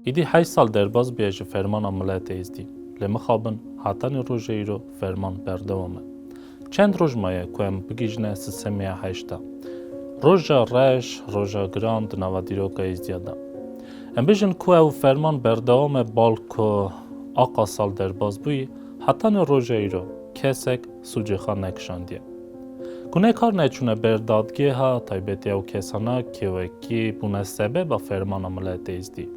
Îdî heşt sal derbas bûye ji fermana miletê Êzdî. Lê mixabin hatanê rojê îro ferman berdewam e. Çend roj maye ku em bigihîjine sistemê ya heşta. Roja reş, roja giran di nava dîroka Êzdîya de. Em bijin ku ew ferman berdewam e bal ku aqa sal derbas bûyî, hatanê roja îro kesek sûcê xwe nekişandiye. Ku ne kar neçûne ber dadgêha taybetiya û kesana ke wekî bûne sebeba fermana miletê îzdî.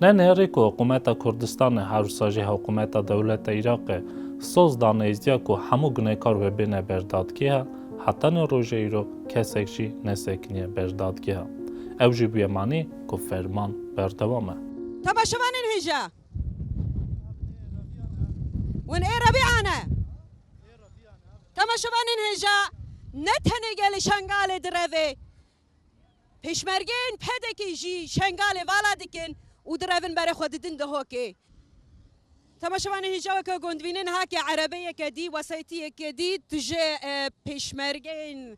Ne nêrî ku hikumeta Kurdistane her wisa jî hikumeta dewleta Îraqê soz dane îzdîya ku hemû gunekar vebêne ber dadgêha heta ne roje îro kesek jî nesekiniye ber dadgêha. Ew jî bûye manî ku ferman berdewam e. Ta ba şevanên hêja win ê rebîane. Temaşevanên hêja ne tenê gelê Şengalê direvê, pêşmergeyên PEDEK'ê jî Şengalê vala dikin û direvin berê xwe didin Dihokê. Temaşevanên hêja weke gondbîne niha ke erebeyeke dî, wesayîtiyeke dî tu ji pêşmergeyên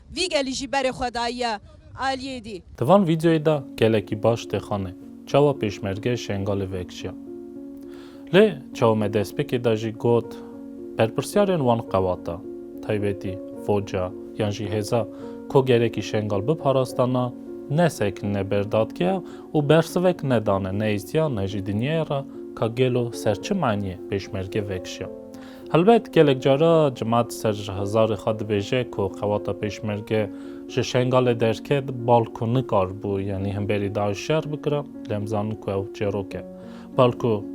Vî gelî jî berê xwe dayiye aliyê dî. Di van vîdeoyê de gelekî baş dixane çawa pêşmerge Şengalê vekişiya. Lê çawa me destpêkê de jî got berpirsyarên wan qewata, taybetî Foca yan jî hêza ku gerekî Şengal biparastana ne seknine ber dadgeha û bersivek nedane ne îstiya ne jî dinyaya re ka gelo ser çi maniyê pêşmerge vekişiya. Helbet gelek cara Cimat ser hizarê xwe dibêje ku qewata Pêşmerge ji Şengalê derket bal ku nikar bû yanî him berî DAIŞ şer bikira lê em zanin ku ew çêrok e. Bal ku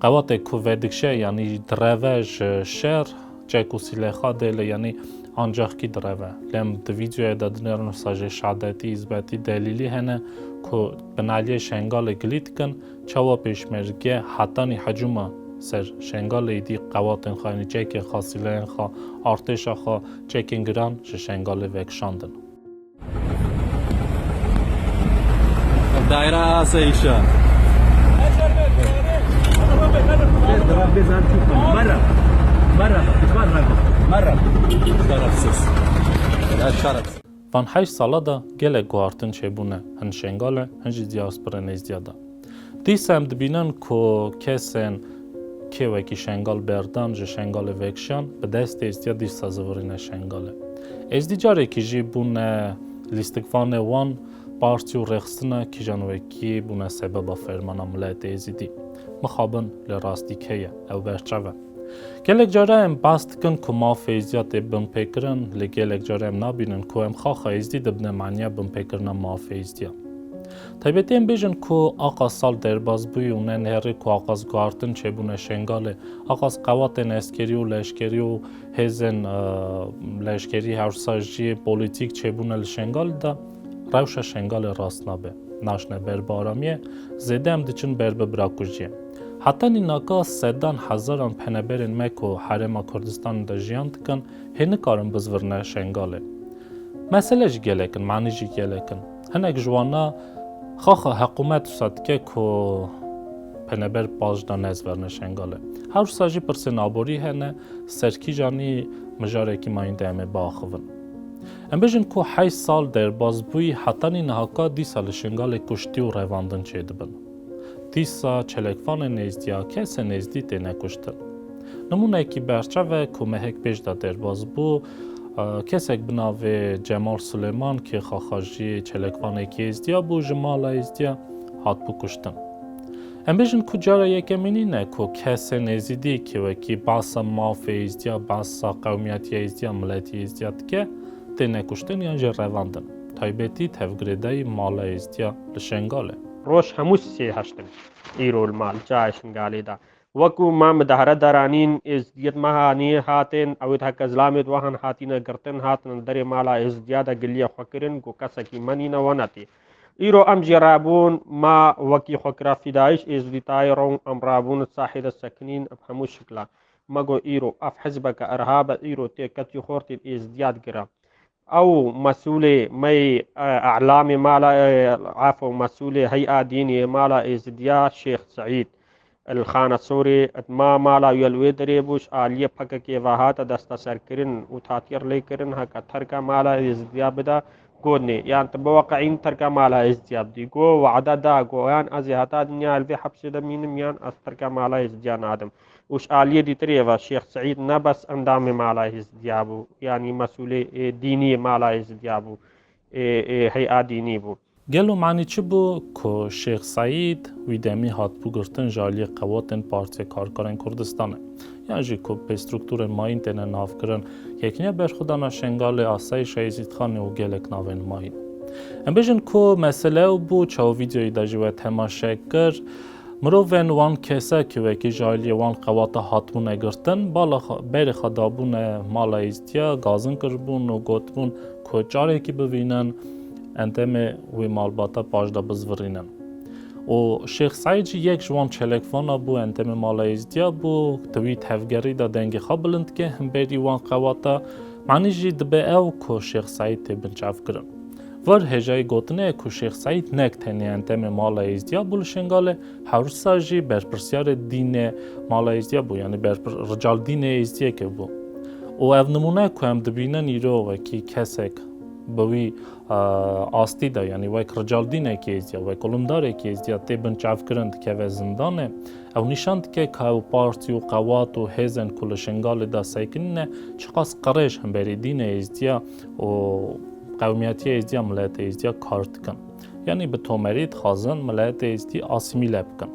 qewatê ku vedikşe yanî direve ji şer çek û sîlê xwe dê lê yanî ancaxkî direve. Lê em di vîdyoyê de dinêrin wisa jê Şadetî, Îzbetî, Delîlî hene ku bi naliyê Şengalê gilî dikin. Çawa pêşmerge hetanî hecûma ser Şengalê êdî qewatên xwe yanî çekên xwe, sîlehên xwe, artêşa xwe, çekên giran ji Şengalê vekişandin. Daîra Asayîşa Merhaba. Merhaba. Merhaba. Şerefsiz. Şerefsiz. Van heşt sala de gelek guhartin çêbûne hin Şengale hin jî dîaspora nêzdîya de. Dîsa em dibînin ku kesên kê wekî Şengal berdan ji Şengalê vekişan bi dest êstîya dîsa zivirîne Şengale. Êzdî carekî jî bûne lîstikvanê wan partî û rêxistina kîjan wekî bûne sebeba fermana miletê êzîdî. Mixabin lê rastî keye ew berçav e. Gelek care em bas dikin ku mafê Êzdiya tê binpêkirin, lê gelek care em nabînin ku em xaxa Êzdî dibine maniya binpêkirina mafê Êzdiya. Taybetî em bêjin ku Axa Sal derbas bûye û ne nêrê ku Axa Zgartin çêbûne Şengalê, Axa Zqewatên eskerî û leşkerî û hêzên leşkerî hewşsa jî polîtîk çêbûne li Şengalê de rewşa Şengalê rast nabe, naşine ber bi aramiyê, zêde em diçin ber bi birakujiyê. Heta nînaka sedan hezaran peneberên me ku herêma Kurdistanê de jiyan dikin hê nikarin bizvirine Şengalê. Mesele ji gelek in, manî jî gelek in. Hinek ji wan na xaxa heqûmet wisa dike ku peneber pajda nezverine Şengalê. Her wisa jî pirsên aborî hene, ser kîjanî mijarekî mayînde em ê biaxivin. Em bijin ku heşt sal derbaz bûyî heta nînaka dîsa li Şengalê kuştî û revandin çêdibin. Dîsa çelekvanên nêzdîyake se nêzdî têne kuştin. Nimûneyekî berçav e ku mehek pêş de derbas bû, kesek bi navê Cemal Sulêman ki xaxa jî çelekvanekî êzdîya bû ji mala êzdîya hatibû kuştin. Em bêjin ku cara yekemîn nîne ku kesên êzîdî ki wekî behsa mafê êzdîya, behsa qewmîyetiya êzdîya, miletî êzdîya dike têne kuştin yan jî revandin. Taybetî tevgirêdayî mala êzdîya li Şengalê. Roj hemû sê heşt in. Îro li mal çayê Şingalê de wekû ma midahre der anîn, êzidiyên me haniyê hatin, ew ê di heke zilamê di wehan hatîne girtin, hatine li derê mala êzidiya de giliya xwe kirin ku kesekî me nîne we netê. Îro em jî rabûn, ma wekî xwe kira fîdayîş êzidî tayê rong em rabûn li sahê de sekinîn bi hemû şiklan. Me got îro ev hizbeke irhabe, îro tê ketî xortên êzidiya digire. Ew mesûlê me yê Elamê Mala Afo mesûlê Heya Dînî yê Mala Êzidiya Şêx Seîd El Xanesorê it ma mala wî li wê derê bû ji aliyê PKK'ê ve hate desteserkirin û tatîr lê kirin heke terka mala Êzidiya bida got nê yan tu biweqeînî terka mala Êzidiya bidî got wade da got yan ez ê heta dinyayê li vê hepsê de mînim yan ez terka mala Êzidiya nadim. û ji aliyê dîtirê ve Şêx Seîd ne bes endamê Mala Êzidîya bû, yanî mesûlê dînî yê Mala Êzidîya bû, heya dînî bû. Gelo manî çi bû ku Şêx Seîd wî demî hatibû girtin ji aliyê qewatên Partîya Karkerên Kurdistanê, yan jî ku pê struktûrên mayîn têne navkirin, Yekîniya Berxwedana Şengalê, Asayîşa Êzîdxanê û gelek navên mayîn. Em bêjin ku mesele ew bû, çawa vîdeoyê de jî we temaşe kir, Mirovên wan kese ke wekî ji aliyê wan qewata hatibûne girtin, bala xwe berê xwe dabûne mala Îzdiya, gazin kiribûn û gotibûn ku carekî bivînin endemê wî malbata paş de bizvirînin. û Şêx Seîd jî yek ji wan çelekvana bû endemê mala Îzdiya bû, di wî tevgerî de dengê xwe bilind dike himberî wan qewata, anî jî dibe ew ku Şêx Seîd tê binçavkirin. Var hêjayî gotinê ye ku Şêx Seîd nek tenê entemê Mala Êzdî ya bû li Şêngalê, hewrisa jî berpirsiyarê dînê Mala Êzdî ya bû yanî berpir rical dînê Êzdîyekê bû û ev nimûne ku em dibînin îro wekî kesek bi wî astî de yanî wek rical dînekî Êzdî ya, wek olimdarekî Êzdî ya tê binçavkirin dikeve zindanê ew nîşan dike ka ew partî û qewat û hêzên ku li Şêngalê de sekinîne çiqas qirêj himberî dînê Êzdî ya û Qewmiyetiya Êzdî ya Miletê Êzdî ya kar dikin. Yanî bi tomerî dixwazin Miletê Êzdî asîmîle bikin.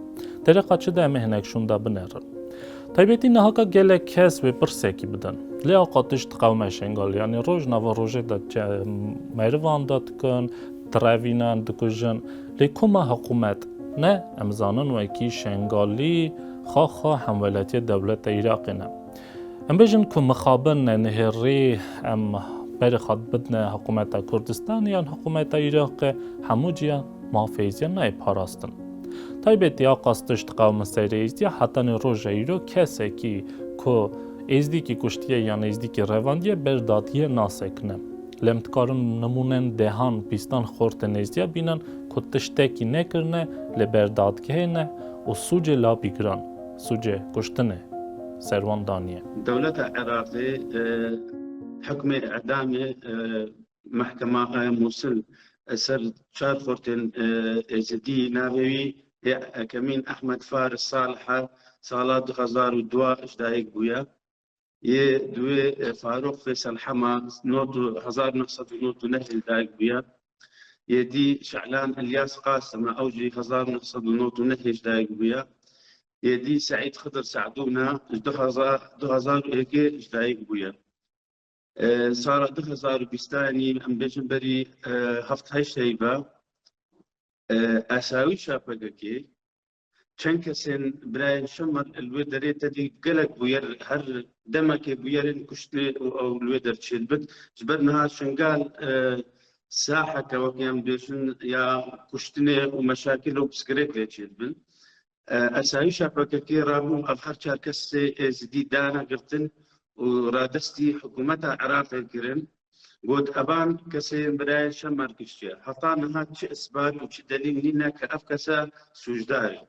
Dereqa çi de em ê hinek şûnda binerin. Taybetî niha ka gelek kes wê pirsekî bidin. Lê a qatiş di qewma Şengalê yanî roj nava rojê de merivan de dikin, direvînin, dikujin. Lê ku ma hiqûmet ne, em zanin wekî Şengalî xaxa hemwelatiya dewleta Îraqê ne. Em bêjin ku mixabin e nihêrî em berê xwe bidne hikumeta Kurdistanê yan hikumeta Iraqê hemû cîya mafê Êzdiyan nayê parastin. Taybetî a qas tişt qewime ser Êzdiya hetanê roja îro kesekî ku Êzdîkî kuştiye yan Êzdîkî revandiye ber dadiye nasekine. Lê em dikarin nimûnen dehan bîstan xortên Êzdiya bînin ku tiştekî nekirine li ber dadgehê ne û sûcê labî giran. sûcê kuştinê ser wan daniye. Dewleta Iraqê hukmê îdamê Mehkema Mûsil ser çar xurtên Êzidî navê wî yê yekemîn Ehmed Faris Salihe sala du hezar û dua ji dayik bûye. Yê duê Farûq Feysel Hema hezar neh sed û nod û neh yê dayik bûye. Yê dî Şe'lan Îlyas Qasim e ew jî hezar neh sed û nod û neh yê ji dayik bûye. Yê dî Seîd Xidir Se'dûn e ji du hezar du hezar û êkê ji dayik bûye. Sala du hezar û bîst e yanî em bêjin berî heft heşt heyv e esawîşa pkk çend kesên birayên Şemar li wê derê tedî gelek bûyer her demekê bûyerên kuştinê û ew li wê derçê dibin. Ji ber niha Şengal saheke wekî em dibêjin ya kuştinê û meşakil û pirsgirêk lê çê dibin. Esayîşa PKK'ê rabû ev her çar kesê êzidî dane girtin û radestî hikûmeta Iraqê kirin. Got, Evan kesê birayê Şemar kiştiye. Heta niha çi isbat û çi delîl nîne ke ev kes e sûcdar e.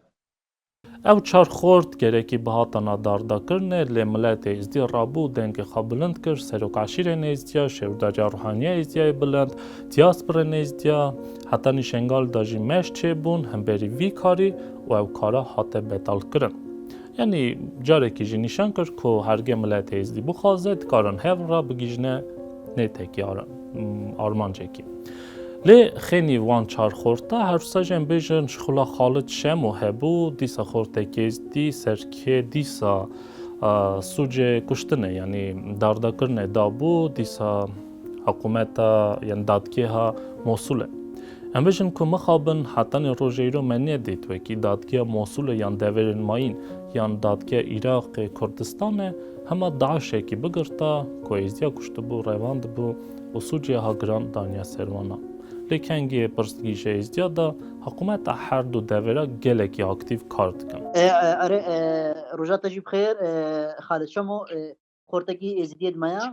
Ew çar xort gerekî bihatana dardakirinê lê miletê Êzdî rabû û dengê xwe bilind kir, Serok Eşîrê Nêzdîya, Şêwirdaja Ruhaniya Êzdîyayê Bilind, Dîaspora Nêzdîya, heta Nîşengal de jî meş çêbûn himberî vî karî û ew kara hate betalkirin. Yanî carekî jî nîşan kir ku herge milet Êzidî bixwaze dikarin hev re bigihîjne nê tekî armancekî. Lê xênî wan çar xorta herwisa jî em bêjin ji xula Xalid Şemo hebû dîsa xortekî Êzidî serkê dîsa sûcê kuştine yanî dardakirine dabû dîsa Hikumeta yên dadgeha Mosulê. Em bijin ku mixabin hetanî rojeyro me nedît wekî dadgeha Mosulê yan deverên mayîn yan dadgeha Îraqê, Kurdistanê hema DAIŞekî bigirta ku êzîya kuştibû, revandibû û sûcê ha giran daniya ser wan. Lê kengê pirsgî ji êzîya da hikumeta her du devera gelekî aktîv kar dikin. Erê roja te jî bixêr Xalid Şamo. Xortekî êzîdiyê di me ya.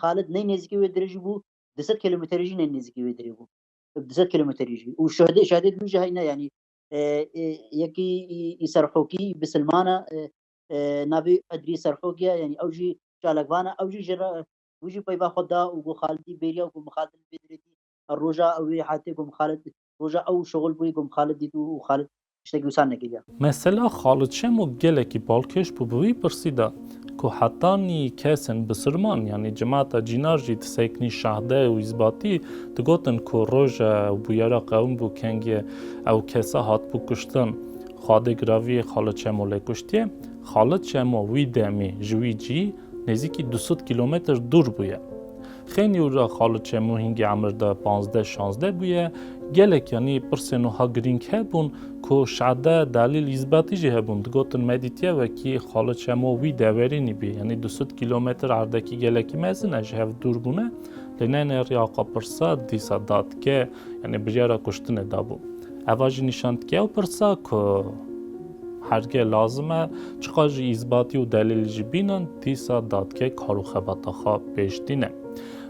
Xalid ney nêzîkê wê dirê jî bû du sed kilometrê jî ney nêzîkê wê dirê bû du sed kilometrê jî û şehidê şehidê din jî heyne yanî yekî î serhokî bi silman e navê Edrî serhokî ye yanî ew jî çalak van e ew jî ji re wî jî peyva xwe da û got Xalidî bêriya ku min Xalidê li vê dirê dît her roja ew wê heftê ku min Xalid Roja ew şoxul bûyî ku min Xalid dît û Xalid tiştekî wisa nekiriya. Mesela Xalid Şemo gelekî balkêş bû bi wî pirsî de ku heta nî kesên bisirman yanî cemata cînar jî di seknî Şahdayê û Îzbatî digotin ku roja bûyera qewim bû kengê ew kesa hatibû kuştin xwe dê giraviyê Xalid Şemo lê kuştiye. Xalid Şemo wî demî ji wî cî nêzîkî du sed kîlometr dûr bûye. Xênî û ra Xaliçê mû hîngê emir de panzdeh şanzdeh bûye. Gelek yanî pirsên wiha girîng hebûn ku Şade, Delîl, Yizbetî jî hebûn. Digotin me dîtiye wekî Xaliçê mû wî deverî nîbî. Yanî du sed kîlometr erdekî gelekî mezin e ji hev dûr bûne. Lê ne nê rê axa pirsa dîsa dadge yanî biryara kuştinê dabû. Eva jî nîşan dike ew pirsa ku. Hergê lazim e, çiqas jî îsbatî û delîl jî bînin, dîsa dadgeh kar û xebata xwe pêşdîne.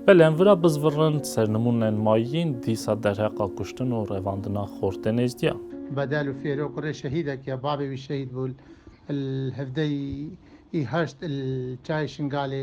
Belê em vira bizvirin, sernimûnên ma yên dîsa derheqa kuştin û revandina xor tê nêzdîyan. Bedel û Fêro kurê şehîdek ye, bavê wî şehîd bû li hevdeh ê heşt li Çayê Şingalê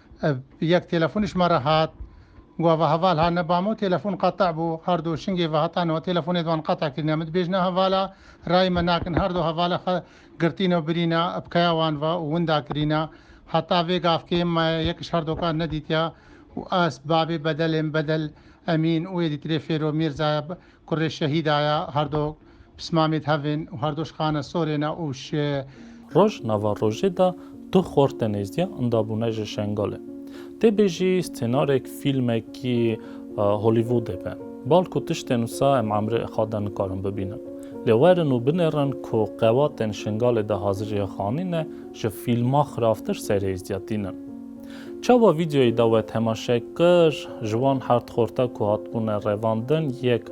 Ev yek telefon ji me re hat. Gava heval hat ne bamo telefon qete bû. Her du şingê vehetan û telefonê di wan qete kirîne. Min dibêjne hevala rayê me nakin. Her du hevala xwe girtîne û birîne ipkeya wan ve û winda kirîne. Heta vê gavkê me yek ji her dokan nedîtiye û ez, bavê Bedelê min Bedel Emîn û êdîtirê Fêro Mîrza ye. Kurê şehîda ya her do pismamê di hev ên û her do şixane sorên e û ji. Roj nava rojê de du xorte nêzdîya inda bûne ji Şengalê. Tê bêjî stênarek fîlmekî Hollywoodê be. Bal ku tiştên wisa em emrê Ixa de nikarin bibînin. Lê werin û binêrin ku qewatên Şengalê de hazirîya xanî ne ji fîlma xiravtir serêzdîya tînin. Çawa vîdeoyê de we temaşe kir, ji wan hardxorta ku hatibûne revandin, yek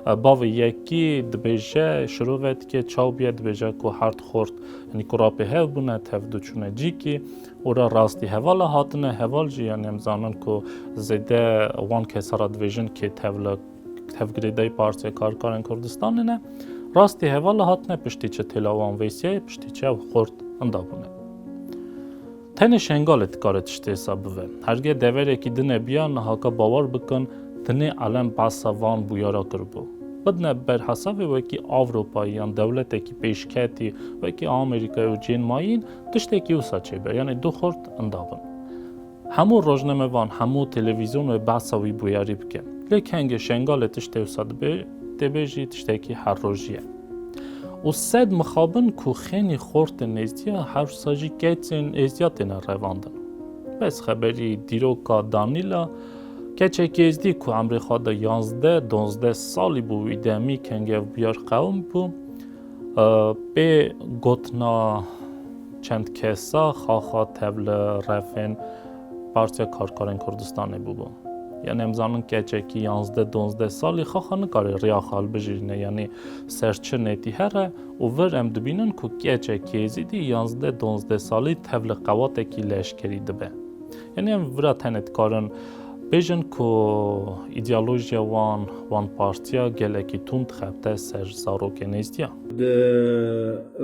bavê yekî dibêje, şirove dike, çaw bûye dibêje ku hardxort yanî ku ra pêhev bûne, tev du çûne cîkî û ra rastî hevala hatine, heval jî yanî em zanin ku zêde wan kesa ra dibêjin kê tev li tevgirêdayî Partiya Karkerên Kurdistanê ne. Rastî hevala hatine piştî çi têla wan vêsiyayê, piştî çi ew xort inda bûne. Tenê Şengalê dikare tiştê hesa bive. Herge deverekî din e biya niha ka bawer bikin tenê elem behsa van bûyara kiribû. Bidine ber hesavê wekî Avropayî yan dewletekî pêşketî wekî Amerîkayê û cên mayîn tiştekî wisa çêbe yanê du xurt inda bin. Hemû rojnamevan, hemû televîzyon wê behsa wî bûyarî bike. Lê kengê Şengalê tiştê wisa dibe, tê bê jî tiştekî her rojî ye. Û sed mixabin ku xênî xortin êzdiya hewsa jî keçên êzdiya têne revandin. Bes xeberî dîroka Danîla, keçek êzdî ku emrê xwe de yazdeh, dozdeh salî bû wî demî kengevbûyar qewim bû, pê gotina çend kesa xaxa tev li refên Partiya Karkerên Kurdistanê bûbû. Yanî em zanin keçekî yanzdeh donzdeh salî xaxa nikare riya xwe hilbijîrîne yanî ser çi netî her e û vir em dibînin ku keçek êzîdî yanzdeh donzdeh salî tev li qewatekî leşkerî dibe. Yanî em vira tenê dikarin bêjin ku îdeolojiya wan, wan partiya gelekî tund xebite ser zarokê nêzdîya. Di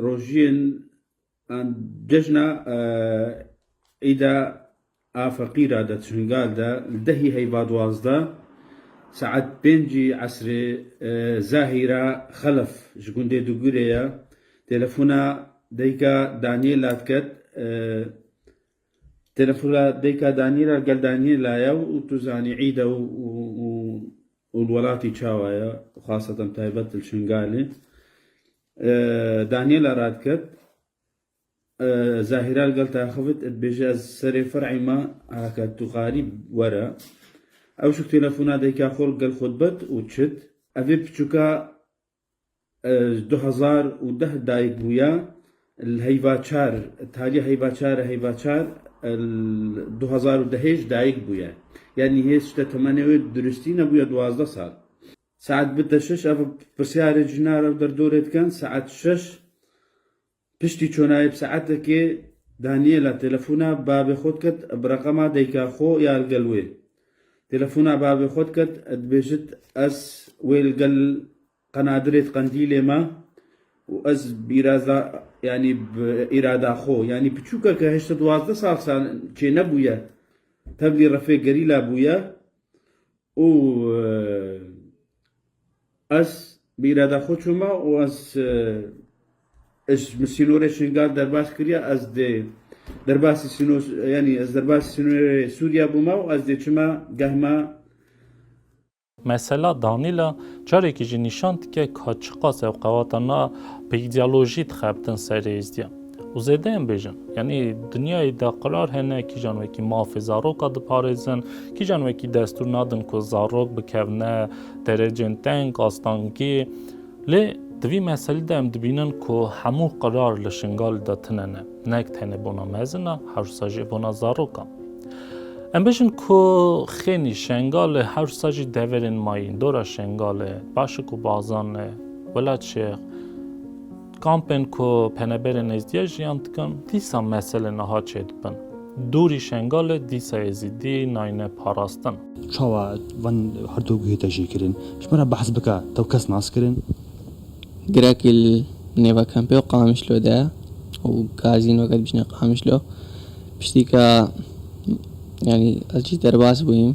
rojiyên An cejna Îda a Feqîra de Çingal de li dehî heyva duwazdeh saet pêncî esrê Zahîra Xelef ji gundê Dugurê ye telefona dayika Daniela diket. Telefona dayika Daniela gel Daniela ye û tu zanî Îda û li welatî çawa ye xwasatan taybet li Çingalê. Daniela radiket, Zahîra li gel diaxivit û dibêje ez serê fer'ê me heke tu xarî were. Ewşik têlefona dayika xwe li gel xwe dibet û çit. Evê piçûka du hezar û deh dayik bûye li Heyvaçar, taliya Heyvaçar e, Heyvaçar li du hezar û dehê jî dayik bûye. Yanî hêz tiştê temenê wê bi duristî nebûye duwazdeh sal. Saet bite şeş ev pirsyarê ji na re û derdorê dikin. Saet şeş piştî çonayê bi saetekê Daniela telefona bavê xwe dikit bi reqema dayika xwe ya li gel wê. Telefona bavê xwe dikit dibêjit ez wê li gel qenadirê di qendîlê me û ez bi îraza yanî bi îrada xwe yanî piçûkeke heşt û duwazdeh sal çênebûye tevlî refê gerîla bûye Û ez bi îrada xwe çûma û ez ji min sînorê Şingal derbas kiriye. Ez dê derbasî sîno yanî ez derbasî sînorê Sûriya bûma û ez dê çima geh me. Mesela Danîla carekî jî nîşan dike ka çiqas ev qewata na bi îdeolojî dixebitin ser êzdiyan. û zêde em bêjin yanî dinyayê de qirar hene kîjan wekî mafê zaroka diparêzin kîjan wekî destûr nadin ku zarok bikevne derecên teng astangî lê di vî meselî de em dibînin ku hemû qirar li şingalî de tune ne nek tenê bona mezin e hewsa jî bona zarokan Em bêjin ku xênî şengalê hewsa jî deverên mayîn dora şengalê başik û bazan e wela çêx Kampên ku peneberên Êzdiya jiyan dikin, dîsa meselê niha çêdibin. Dûrî Şengalê dîsa Êzidî nayne parastin. Çawa van herdu guhê te jê kirin? Ji me re behs bike, tew kes nas kirin? Girekî li nêva kampê û Qamişlo de ye û gazîn weke dibîjne Qamişlo. Piştîka yanî ez jî derbas bûyîm.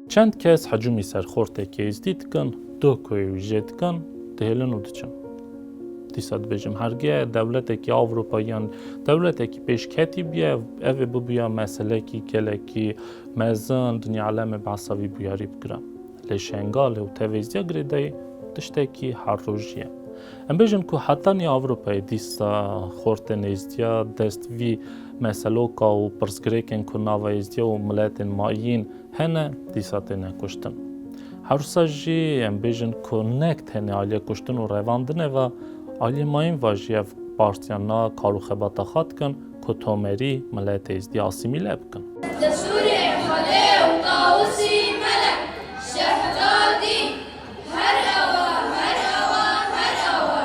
Çend kes hecûmî ser xortê kêzdî dikin, duh ku yê wî jê dikin, dihêlin û diçin. Dîsa dibêjim herge dewletekî Ewropayî yan dewletekî pêşketî bûye, ev ê bibûya meselekî gelekî mezin, dinya alemê behsa vî bûyerî bikire. Lê Şengalê û Tevêziya girêdayî tiştekî her rojî ye. Em bêjin ku heta nîya Ewropayê dîsa xortê nêzdîya dest vî meseloka û pirsgirêkên ku nava êzdîya û miletên mayîn Hene dîsa têne kuştin. Hewsa jî em bêjin ku nek tenê aliyê kuştin û revandin e va, aliyê mayîn va jî ev partiyan na kar û xebata xwe dikin ku tomerî miletê Êzdîyê asîmîle bikin. Destûrê Xwedê û Tawusî Melek Şehzadî her awa, her awa, her awa,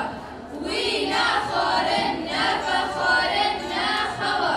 wî ne xwarin, ne vexwarin, ne xewa.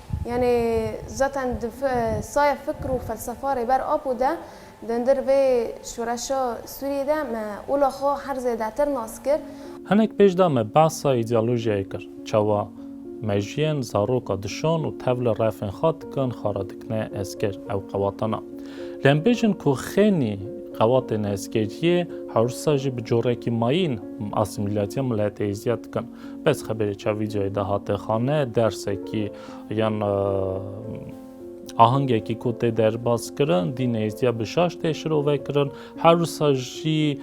Yanî zaten di saya fikr û felsefa Rêber Apo de di hundir vê şoreşa Sûriyê de me ola xwe her zêdetir nas kir. Hinek pêş de me behsa îdeolojiyayê kir, çawa mejiyên zaroka dişon û tevli refên xwe dikin xara dikine eskêr ew qewatana. Lê em bêjin ku xênî qewatên eskêriyê hewrsa jî bi corekî mayîn asîmîlatîya mileteyî ziyad dikin. Bez xeberê ça vîdyoyê de hate xane dersekî yan ahengekî ku tê derbas kirin dî nêzîya bi şaş tê şirove kirin her wisa jî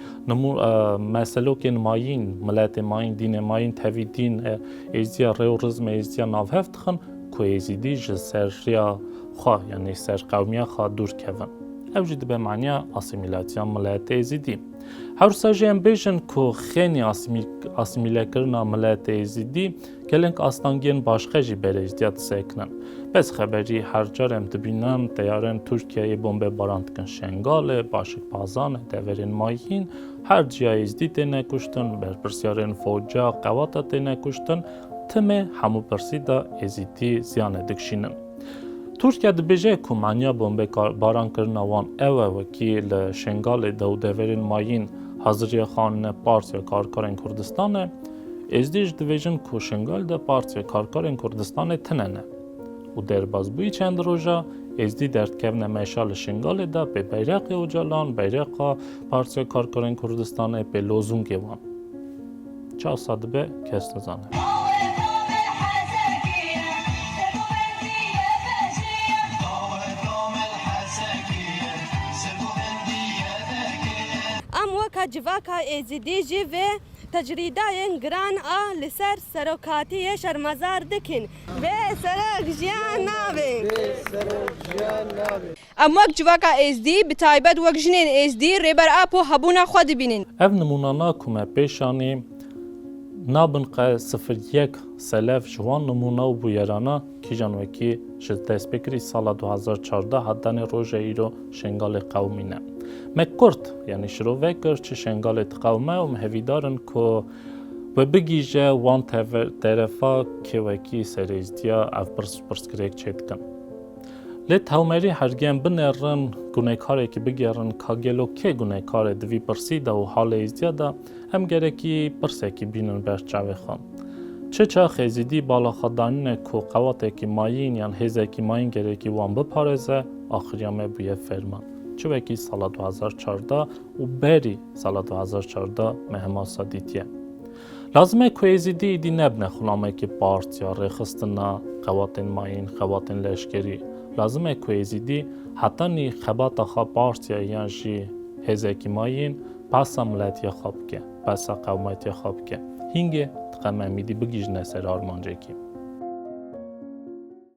meselokên mayîn miletê mayîn dînê mayîn tevî dîn êzîya rê û rizmê êzîya navhev dixin ku êzîdî ji ser riya xwe yanî ser qewmiya xwe dûr kevin. Ew jî dibe maniya asîmîlasyona miletê êzîdî. Hewsa jî em bêjin ku xênî asîmîlekirina miletê Êzîdî gelek astangiyên başxe jî berê Êzîdiya disekinin. Bes xeberî her car em dibînin teyarên Tirkiyeyê bombebaran dikin Şengalê, Başikpazanê, deverên Mayîn, her ciya Êzîdî têne kuştin, berpirsyarên foca, qewata têne kuştin, timê hemû pirsî de Êzîdî ziyanê dikşînin. Tirkiye dibêje ku maniya bombebaran kirina wan ew e wekî li Şengalê de û deverên Mayîn haziriya xanine Partiya Karkerên Kurdistanê. Êzdî ji dibêjin ku Şengal de Partiya Karkerên Kurdistanê tine ne. Û derbasbûyî çend roj e, Êzdî derdkevine meşa li Şengalê de pê beyreqê Ocalan, beyreqa Partiya Karkerên Kurdistanê, pê lozûngê wan. Çav sa dibe kes nizane. Em weka civaka Êzidî jî vê tecrîdayên giran a li ser serokatiyê şermezar dikin. Bê serok jiyan nabe. Em wek civaka Êzdî, bi taybet wek jinên Êzdî, Rêber Apo hebûna xwe dibînin. Ev nimûnana ku me pêş anî, nabin qe sifir yek selef ji wan nimûna û bûyerana kîjan wekî ji destpêkirî sala du hezar û çardeh hat danê roja îro Şengalê qewimî ne. Me Kurd, yanî şirovek Kurd ji Şengalê diqewime û me hevîdar in ku we bigihîje wan terefa kê wekî ser Êzdiya ev pirsgirêk çêdikin. Lê tewmerî hergem binerin gunekarekî bigerin ka gelo kê gunekar e di vî pirsî de û halê Êzdiya de em gerekî pirsekî bînin ber çavê xwe. Çi çax Êzidî bala xwe danîne ku qewatekî mayîn yan hêzekî mayîn gerekî wan biparêze axiriya me bûye ferman. Çi wekî sala du hezar çardeh û berî sala du hezar çardeh me hema sa dîtiye. Lazim e ku Êzîdî êdî nebne xulamekî partiya rêxistina xebatên mayîn, xebatên leşkerî. Lazim e ku Êzîdî heta nî xebata xwe partiya yan jî hêzekî mayîn behsa miletiya xwe bike, behsa qewmetiya xwe bike. Hîngê dixem em êdî bigihîjine ser armancekî.